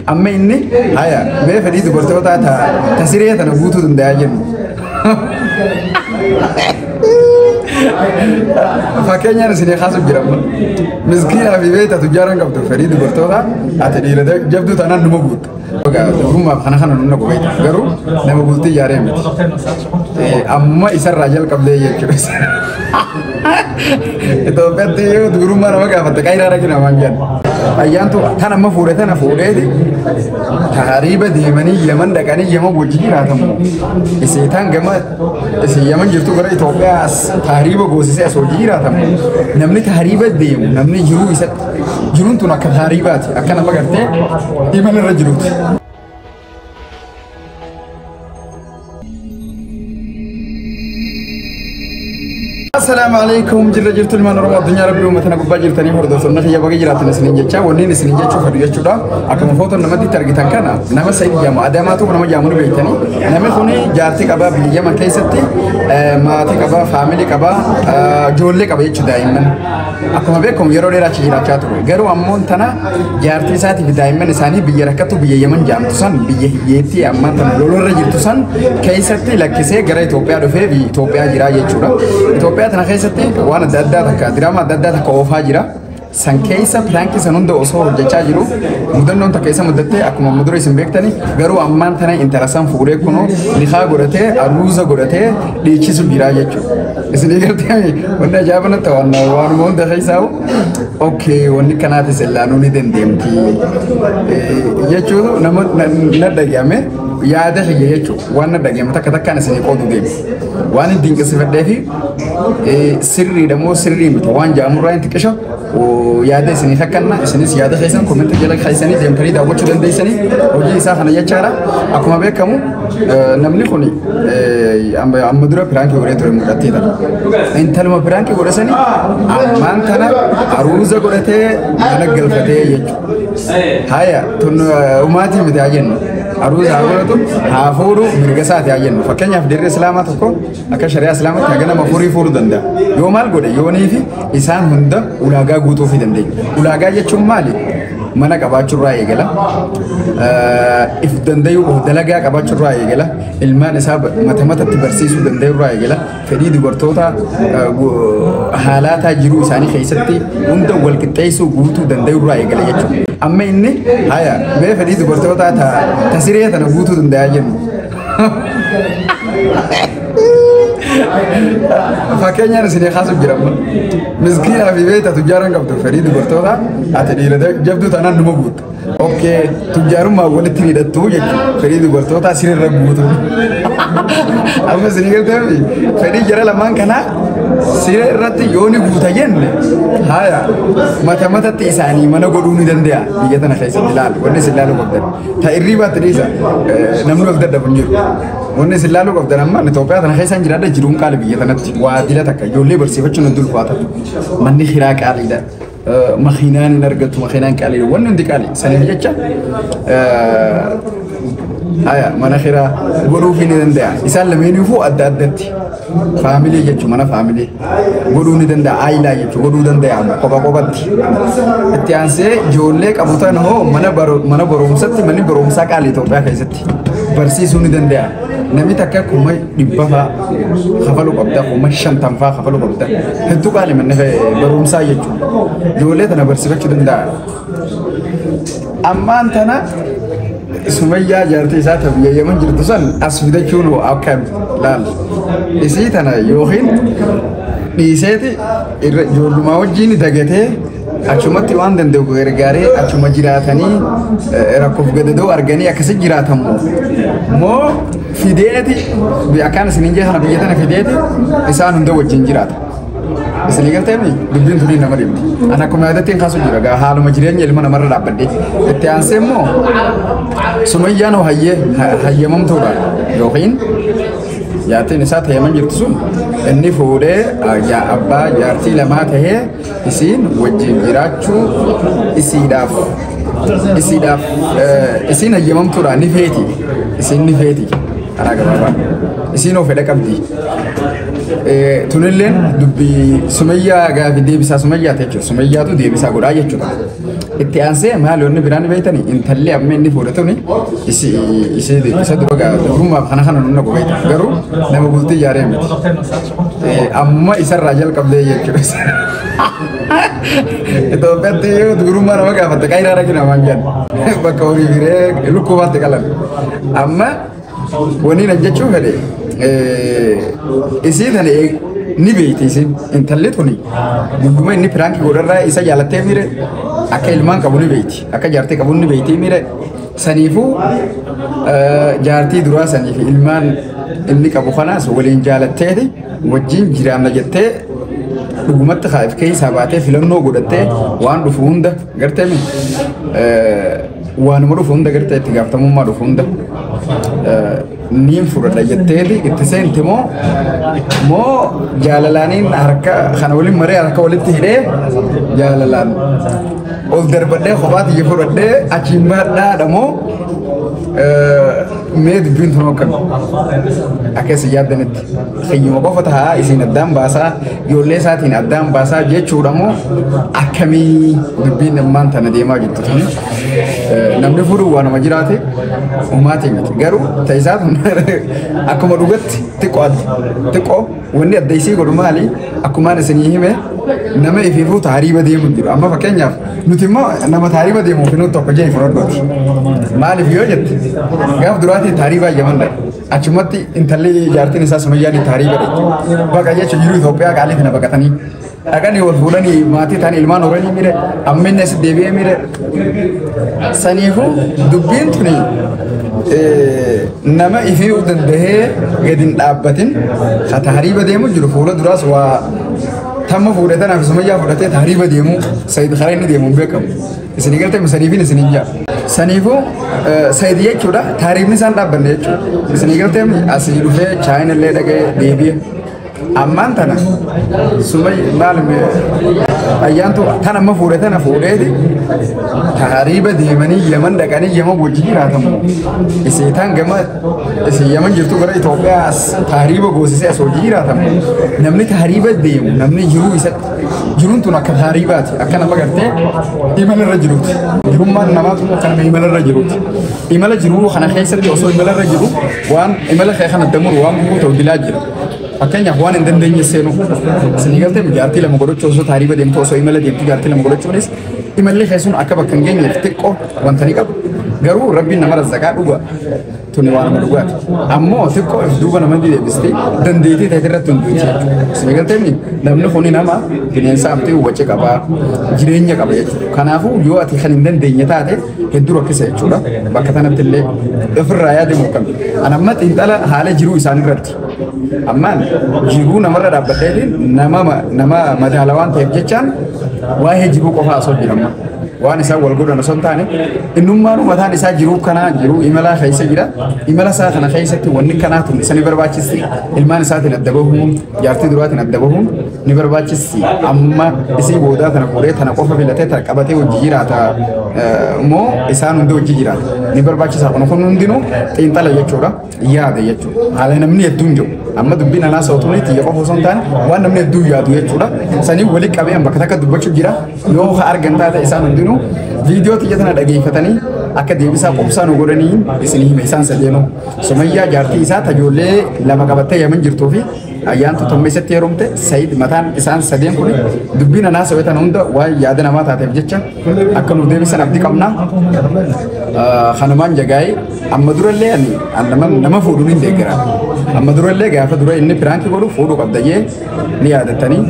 Amma inni haya mee fedhii dubartootaa ta'a ta siree tana guutuu danda'a jennu. Fakkeenyaan isin kaasuuf jira amma. Miskiinaa fi beekta tujjaaran qabdu fedhii dubartootaa ati dhiira jabduu taanaan numa guutta. Dubrummaaf kana kana nunna qubeeta garuu nama guutii yaaree miti. Amma isarraa jalqabdee jechuudha. Itoophiyaatti yoo gurummaa nama gaafatte qayiraa dhaqi namaan jedhan. Ayyaantu tan amma fuudhe tana fuudheeti tahariiba deemanii Yaman dhaqanii Yaman wajjin jiraatamu. Isii tan gama isii Yaman jirtu gara Itoophiyaa as tahariiba goosisee as wajjin jiraatamu. Namni tahariiba deemu namni jiruu isatti jiruun tun akka tahariibaati akka nama gartee imalarra jiruuti. Assalaamu alaikum jirra jirtu ilmaan Oromoo addunyaa rabbii uummatana gubbaa jirtanii hordoftoonni kiyya baga jiraatan isiniin jecha wanniin isiniin jechuu fedhu jechuudha akkuma footoon namatti itti argitan kana nama sa'id jedhamu adaamaa tokko nama jedhamu ni beektanii namni kun jaartii qabaa biyya yaman keessatti eh, maatii qabaa faamilii qabaa eh, ijoollee qaba jechuudha daa'imman Akkuma beekamu yeroo dheeraa achi jiraachaa ture. Garuu ammoo tana jaartii isaatii fi daa'imman isaanii biyya rakkattu biyya Yemen jaamtu san biyya hiyyeettii ammaa tana lolorra jirtu san keessatti lakkisee gara Itoophiyaa dhufee biyya Itoophiyaa jiraa jechuudha. Itoophiyaa tana keessatti waan adda addaa takka diraama adda addaa takka oofaa jira. san keessa piraankii san hunda osoo hojjechaa jiru mudannoon takka isa mudattee akkuma mudura isin beektani garuu ammaan tana intala san fuudhee kunoo nikaa godhatee aruuza godhatee dhiichisu jiraa jechuudha. Isinii galtee wanni ajaa'iba natti waan waanuma hunda keessaa okkee wanni kanaatis illaanuu ni dandeemti jechuun nama na dhagahame yaada kiyya jechuun waan na dhagahame takka takkaan isinii qoodu deemu waan hin dinqisifadhee fi sirriidha moo sirrii miti waan jaamurraa hin xiqqisho yaada isiniif akkanna isinis yaada keessan komentii jala keessanii deemtanii daawwachuu dandeessanii hojii isaa kana jechaadha akkuma beekamu namni kun amma dura piraankii godhee ture mul'atteedha intaluma piraankii godhe sani ammaan kana aruuza godhatee mana galfatee jechuudha haya tun umaatii miti haa jennu aruuza haa godhatu haa fuudhu mirga isaati haa jennu fakkeenyaaf dirree islaamaa tokko Akka shari'aa islaamatti haga nama afurii fuudhuu danda'a. Yoo maal godhe yoonii fi isaan hunda ulaagaa guutuu fi dandeenya. Ulaagaa jechuun maali? Mana qabaachuurraa eegala. Eh, If dandayuu of dalagaa qabaachuurraa eegala. Ilmaan isaa ba- mata matatti barsiisuu dandayuurraa eegala. Fedhii dubartoota eh, gu- haalaataa jiruu isaanii keessatti hunda wal qixxeessuu guutuu dandayuurraa eegala jechuudha. Amma inni haya mee fedhii dubartootaa ta ta siree tana guutuu danda'a jennu. Fakkeenyaan isin kaasuuf jira amma. Miskiinaa fi beektaa tujjaaran qabdu fedhii dubartoota ati dhiira jabduu taanaan numa guutta. Okkee tujjaarummaa walitti hidhattuu jechuudha. Fedhii dubartootaa sirriirra guutu. Amma isin galtee fi fedhii jara lamaan kanaa siree irratti yoo ni guuta jenne haaya mata matatti isaanii mana godhuu ni danda'a biyya tana keessatti ilaalu wanni isin ilaalu qabdan. Ta irriibaatti dhiisa namni of dadhabu hin jiru. Wanni isin laaluu qabdan amma Itoophiyaa tana keessaan jiraadha jiruun qaali biyya tanatti waa dila takka ijoollee barsiifachuun hundi ulfaata. Manni hiraa qaaliidha. Makiinaan hin argatu makiinaan qaaliidha. Wanni hundi qaali. Saniif jecha mana hiraa godhuuf ni danda'a. Isaan lameenuu adda addatti. Faamilee jechuun mana faamilee godhuu ni danda'a. Aayilaa jechuun godhuu danda'ama kopha kophatti. Itti aansee ijoollee qabu ta'an immoo mana baro- mana barumsatti manni barumsaa qaali Itoophiyaa keessatti barsiisuu ni danda'a. Namni takka kuma dhibba fa'aa kafaluu qabda kuma shantam fa'aa kafaluu qabda. Hedduu qaali manni barumsaa jechuudha. Ijoollee tana barsiifachuu danda'a. ammaan tana sumayyaa jaartii isaa ta biyya yaman jirtu san as fidachuun hoo akka laal isii tana yookiin dhiiseeti irra ijoollumaa wajjiin dagatee achumatti waan danda'u gargaaree achuma jiraatanii eh, rakkoof gadadoo arganii akkasi jiraatamu moo fideeti akkaan isinin jee kana biyya tana fideeti isaan hunda wajjin jiraata. Isinii galtee mi dubbiin tunii nama dhibdi. Ani akkuma yaadattiin kaasuu jira gaa haaluma jireenya ilma namarra dhaabbadhee. Itti aansee immoo sumayyaan hoo hayyee hayyamamtuudha yookiin jaartiin isaa ta'eeman jirtu sun inni fuudhee yaa abbaa jaartii lamaa ta'ee isiin wajjin jiraachuu isiidhaaf isiidhaaf isiin hayyamamtuudha ni feeti isiin ni feeti. karaa gabaabaa isiinoo fedha qabdi. Eh, Tunilleen dubbii sumayyaa gaafi deebisaa sumayyaa ta'e jechuudha. Sumayyaatu deebisaa godhaa jechuudha. Itti aansee maal yoonni biraan beektani intalli amma inni fuudhe tuni isi isi isa dura gaa durummaaf kana kana nunna gogeeta. Garuu nama bultii ijaaree miti. Eh, Amma isarraa jalqabdee jechuudha. Itoophiyaatti yoo durummaa nama gaafatte qayiraa dhaqina waan jedhan bakka horii firee lukkuu baatti qalan. Amma waniin an jechuu fedhe isii tana ni beeyti isin intalli tuni guyyuma inni piraanki godharraa isa jaalattee miire akka ilmaan qabu ni beeyti akka jaartee qabu ni beeyti miire saniifuu jaartii duraa saniif ilmaan inni qabu kanaas waliin jaalatteeti wajjin jiraanna jettee dhugumatti kaa'if keessaa baatee filannoo godhattee waan dhufu hunda gartee Waanuma dhufu hunda gartee itti gaafatamummaa dhufu hunda niin fudhadha jetteeti itti seenti moo moo jaalalaaniin harka kana waliin maree harka walitti hidhee jaalalaan ol darbadhee kophaa tiyya fudhadhee achiin baadhaadha moo mee dubbiin tunoo akkami akka isin yaaddanitti. Sanyuma qofa tahaa isin addaan baasaa ijoollee isaatiin addaan baasaa jechuudha moo akkamii dubbiin ammaan tana deemaa jirtu tuni namni fudhu waa nama jiraate ummaatii miti garuu ta'isaa tun akkuma dhugatti xiqqoo xiqqoo wanni adda isii godhu maali akkumaan isinii hime nama ifiifuu taariiba deemu jiru amma fakkeenyaaf nuti immoo nama taariiba deemuuf nuti tokko jee fudhadhooti maaliif yoo jette gaaf duraatiin taariibaa jaman dhabe. Achumatti intalli jaartiin isaa Sumayyaan itti harii godhe. Baqa jechuun jiru Itoophiyaa qaalii kana baqatanii. Dhaqanii wal fuudhanii maatii ta'an ilmaan horanii mire amminni as deebi'ee mire. Saniifuu dubbiin tuni nama ifii danda'ee gadi hin dhaabbatin ka tahriiba deemu jiru fuula duraas waa tamma fuudhatanaaf Sumayyaa fudhatee tahriiba deemu Sayid Kareen deemuun beekamu. Isin hin galtee saniifin isin hin ja'a. Saniifuu sayid jechuudha taariifni isaan dhaabbanne jechuudha. Isin hin galtee asii dhufee chaayina illee dhaqee deebi'e. Ammaan tana sumay maal ayyaantu tan amma fuudhe tana fuudheeti taariiba deemanii yaman dhaqanii yaman wajji jiraatamu. Isii tan gama isin yaman jirtu gara Itoophiyaa as taariiba goosisee as wajji jiraatamu. Namni taariiba deemu namni jiruu isatti Jiruun tun akka taariibaati. Akka nama gartee imala irra jiruuti. Jirummaan namaa tun akka nama imala irra jiruuti. Imala jiruu kana keessatti osoo imala irra jiru waan imala kee kana damuru waan gubuu ta'u dilaa jira. Fakkeenyaaf waan hin dandeenye seenuu. Isinii galtee jaartii lama godhachuu osoo taariiba deemtu osoo imala deemtu jaartii lama godhachuunis imalli keessuun akka bakka hin geenyeef xiqqoo wanta ni qabu. Garuu rabbiin nama razzaqaa dhuga. tuni waanuma dhugaati. Ammoo xiqqoo if duuba nama deebistee dandeettii ta'e irratti hunduu jechuudha. Seegalteenni namni kuni nama bineensa amtee waci qaba jireenya qaba jechuudha. Kanaafuu yoo ati kan hin dandeenye taate hedduu rakkisa jechuudha. Bakka kanatti illee ofirraa yaade morkame. Anamma xiinxala haala jiruu isaanii irratti Ammaan jiruu namarra dhaabbatee nama nama madaala waan ta'eef jechaan waa'ee jiruu qofaa osoo jirama. Waan isaan wal godhan osoo hin taane innummaan mataan isaa jiruu kanaa jiruu imalaa keessa jira. Imala isaa kana keessatti wanni kanaa tun isa ni barbaachisi. Ilmaan isaatiin adda bahuun jaartii duraatiin adda bahuun ni barbaachisi. Amma isii boodaa tana fuudhee tana qofa filatee tana qabatee hojii jiraata moo isaan hundi hojii jiraata. Ni barbaachisa kun kun hundinuu xiinxala jechuudha. yaada jechuudha. Haala namni hedduun jiru. Amma dubbiin anaa sa'utuun xiyya qofa osoo hin taane waan namni hedduun yaadu jechuudha. Sanii wali qabee bakka takka dubbachuuf jira. Yoo ka argan taate isaan hundinuu viidiyoo xiyya tana dhageeffatanii akka deebisaa qubsaa nu godhanii isin hime isaan sadeenu. Sumayyaa jaartii isaa tajoollee lama qabattee yaman jirtuu fi ayyaantu tommeessatti heerumte Sayid mataan isaan sadeen kun dubbiin anaa sa'utan hunda waan yaada namaa taateef jecha akka nu deebisan abdi qabna. Kanumaan jagaa'ee Amma durallee ani an nama nama fuudhuun hin deeggara. Amma durallee gaafa dura inni piraanki godhu fuudhu qabda jee ni yaadatanii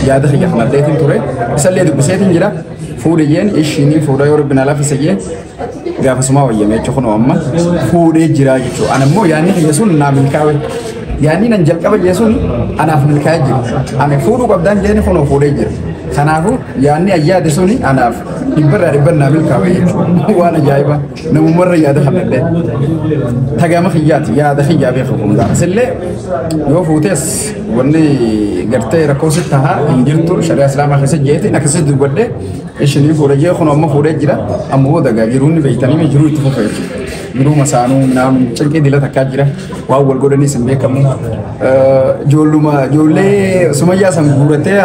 yaada kiyya kanalleetiin ture. Isallee dubbiseetiin jira. Fuudhi jeen ishii ni fuudha yoo rabbi na laafisa jee gaafasumaa wayyamee jechuun kunoo amma fuudhee jira jechuudha. An ammoo yaadni kiyya sun naa milkaawe. Yaadni nan jalqaba jee sun anaaf milkaa'ee jira. Ani fuudhu qabdaan jeeni kunoo fuudhee jira. Kanaafuu yaadni ayyaade suni anaaf dhibbarraa dhibban naa milkaawe jechuudha. Waan ajaa'ibaa. namumarra yaada fannallee tagama kiyyaati yaada kiyyaa beeku hundaa sillee yoo fuutes wanni gartee rakkoo sitti tahaa hin jirtu shari'a islaamaa keessa jeetiin akkasitti dubbadhe ishinii fuudhe jee kun amma fuudhee jira amma booda gaa jiruun ni beektanii jiruu itti fufa jechuudha jiruu masaanuu naam cinqii dila takkaa jira waan wal godhanis hin beekamu. Ijoolluma ijoollee sumayyaa san guuratee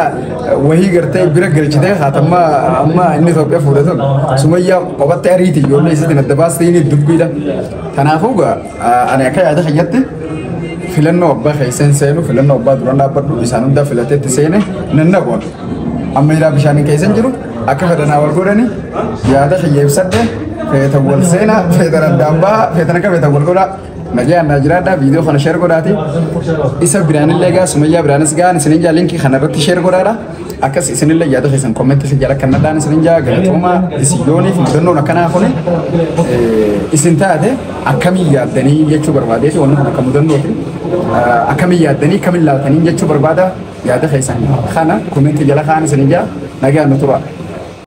wahii gartee bira galchitee haatamma amma inni Itoophiyaa fuudhe sun sumayyaa qofaatti ariiti ijoollee isiitiin adda baastee inni dubbiidha. Kanaafuu gaa ani akka yaada keenyatti filannoo abbaa keessan seenu filannoo abbaa duraan dhaabbadhu isaan hundaa filateetti seene nan naqoon. Amma ilaa bishaaniin keessan jiru akka fedhanaa wal godhani yaada kiyya ibsadhe feetan wal seenaa feetan addaan ba'a feetan akka feetan wal godhaa. Nagaan naa jiraadhaa viidiyoo kana sheer godhaati. Isa biraanillee gaa sumayyaa biraanis gaan isinin jaa linkii kana irratti sheer godhaadha. Akkas isinillee yaada keessan kommentii si jala kan nadhaan isinin jaa galatooma isiyooniif mudannoon akkanaa kuni isin taate akkamii yaaddanii jechuu barbaadee fi wanni kun akka mudannooti. Akkamii yaaddanii akkamii laaltanii jechuu barbaada yaada keessan kana kommentii jala kaan isinin jaa nagaan nu turaa.